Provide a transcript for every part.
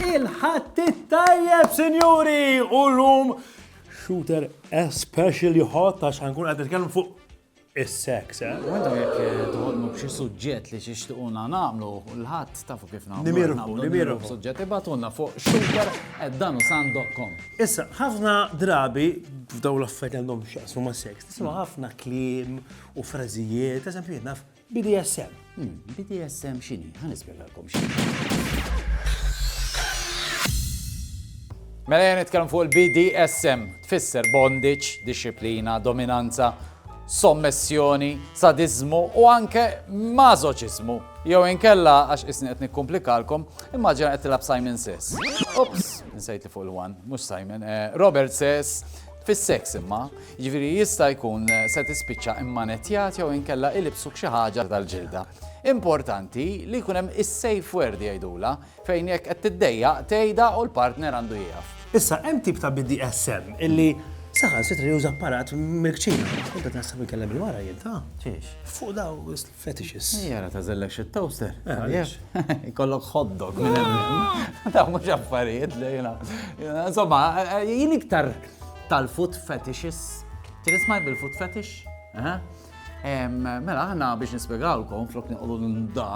Il-ħadd it-tajjeb, sinjuri, u l-lum shooter especially hot għax ħankun qed nitkellmu fuq is-seks, eh? Għadu jekk eh, toħolmu b'xi suġġett li xixtiquna nagħmlu l-ħadd tafu kif nagħmlu. Nimirħu, nimirħu. Suġġett ibatulna fuq sugar@danusan.com. Issa, ħafna drabi f'daw l-affarijiet għandhom x'jaqsmu ma' seks, tisma' ħafna kliem u frażijiet, eżempju naf BDSM. Hmm, BDSM xini? Ħa nispjegalkom xini. Mela jgħan nitkellem fuq il-BDSM, tfisser bondage, disciplina, dominanza, sommessjoni, sadizmu u anke mażoċizmu. Jew inkella għax isni qed nikkomplikalkom, immaġina qed tilab Simon Says. Ups, nsejt li fuq il-one, mhux Simon, eh, Robert Says Fis-seks imma, jiġifieri jista' jkun se tispiċċa immanettjat jew inkella ilibsuk xi ħaġa tal-ġilda. Importanti li jkun hemm is-safe word jgħidulha, fejn jekk qed tiddejjaq tgħidha u l-partner għandu jieqaf. Issa, hemm tip ta' BDSM illi saħansitra juża apparat mill-kċina. Tkun qed taħseb li tkellem il-mara jien, ta? Fuq dawn. Fetishes. Ejja ara tagħżel lek xi toaster. Għaliex? Jkollok hot dog minn hemm. Dawn mhux affarijiet li jiena. Insomma, jien iktar tal-food fetishes. Trid isma' bil-food fetish? Mela aħna biex nispjegawlkom flok nieqogħdu nda,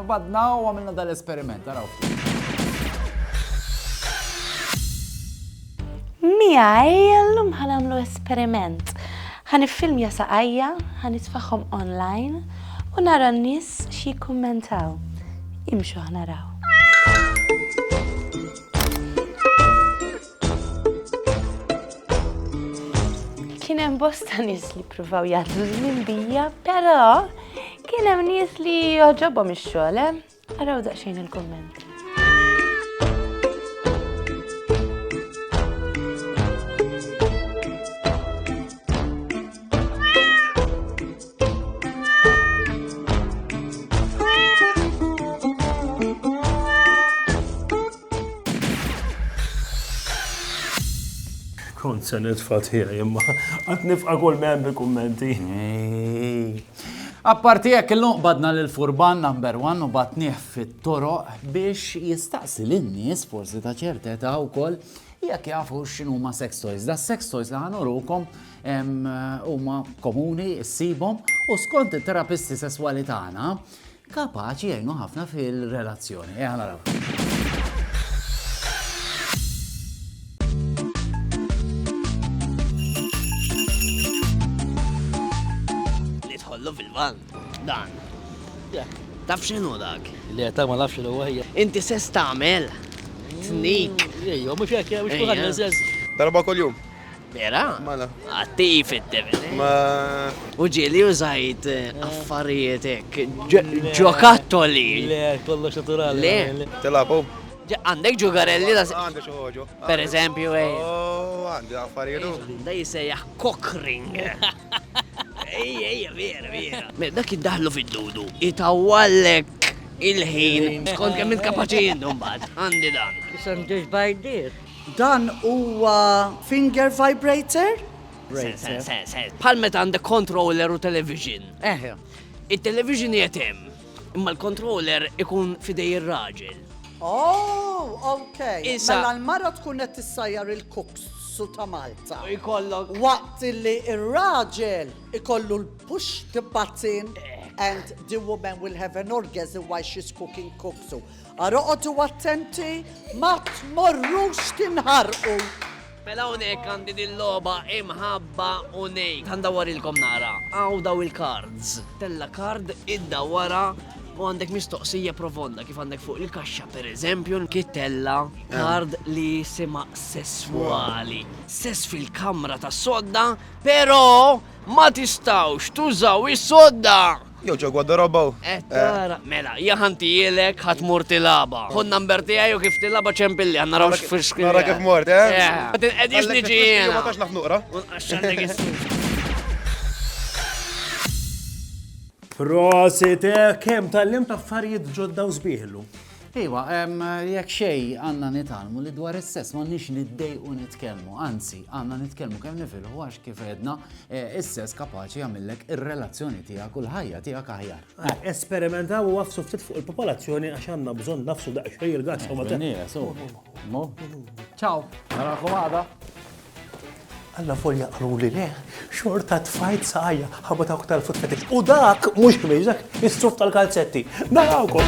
badna u għamilna dal-esperiment, araw. Miegħi llum ħa nagħmlu esperiment. Ħa niffilmja saqajja, ħa nitfagħhom online u nara n-nies xi jikkummentaw. Imxu ħa naraw. Kien hemm bosta nies li pruvaw jgħaddu żmien bija, però kien hemm nies li joġobhom ix-xogħol, eh? Araw daqsxejn il-kumment. Kont se nitfa' tiegħi imma qatt nifqa' kull ma hemm bi kummenti. Apparti hekk illum qbadna lil furban number one u batnieh fit-toroq biex jistaqsi lin-nies forsi ta' ċerta età wkoll jekk jafu x'inhuma sex toys. Da sex toys li ħanurukom huma komuni ssibhom u skont it-terapisti sesswali tagħna kapaċi jgħinu ħafna fil-relazzjoni. Ejja naraw. kollu fil-van. Dan. Taf xinu dak? Li għetak ma nafx xinu għajja. Inti se stamel. Snik. Ejjo, mux jek, mux kuħan, Darba kol jum. Vera? Mala. Attiv id-devil. Ma. U ġieli użajt affarijiet hekk ġokattoli. Le, kollox naturali. Le. Tilabu. Għandek ġugarelli da. Għandek xoħoġu. Per eżempju, ej. Oh, għandi affarijiet. Da jisejjaħ cockring. Ej, ej, vera, vera. Dak id-daħlu fid-dudu, itawallek il-ħin. Skont kemm il-kapaċi jindum bad. Għandi dan. Isem ġeġ bajdis. Dan huwa finger vibrator? Bħal meta għandek controller u television. Eħe. Il-television jetem, imma l-controller ikun fidej ir-raġel. Oh, ok. Issa. Mela l-mara tkun qed tissajjar il-kuks su ta' Malta. Ikollok. Waqt li ir-raġel ikollu l-push the button and the woman will have an orgasm while she's cooking kuksu. Ara oqogħdu attenti ma tmorrux tinħarqu! Mela hawnhekk għandi din logħba imħabba u ngħid. Ħandawwarilkom naqra. Hawn daw il-cards. Tella' card, iddawwarha u għandek mistoqsija profonda kif għandek fuq il-kaxxa pereżempju kif tella' card li jisimha sesswali. Sess fil-kamra tas-sodda, però ma tistgħux tużaw is-sodda! Jew ġo gwadarabaw. Qed tara, mela, ja ħantijielek ħa tmur tilagħba. Ħu n-number tiegħi u kif tilagħba ċempilli ħa naraw x'fix kien. Nara kif mort, eh? Ma tinqedix niġi jiena. Ma tax naf nuqra. U nqaxxandek is-suf. Prosit, eh, kemm tallimt affarijiet ġodda u sbieħ illum. Iva, jekk xejn għandna nitgħallmu li dwar is-sess m'għandniex niddejqu nitkellmu, anzi għandna nitkellmu kemm nifilħu għax kif għedna eh, is-sess kapaċi jagħmillek ir-relazzjoni tiegħek u l-ħajja tiegħek aħjar. Ah, esperimentaw u għafsu ftit fuq il-popolazzjoni għax għandna bżonn nafsu daqsxejn il-gatt. Ciao. Narakom għada. Allavolja qaluli le, xorta tfajt saqajja ħabba dawk tal-futfetiks. U dak mhux ħmieġ, dak is-suf tal-kalzetti. Narawkom!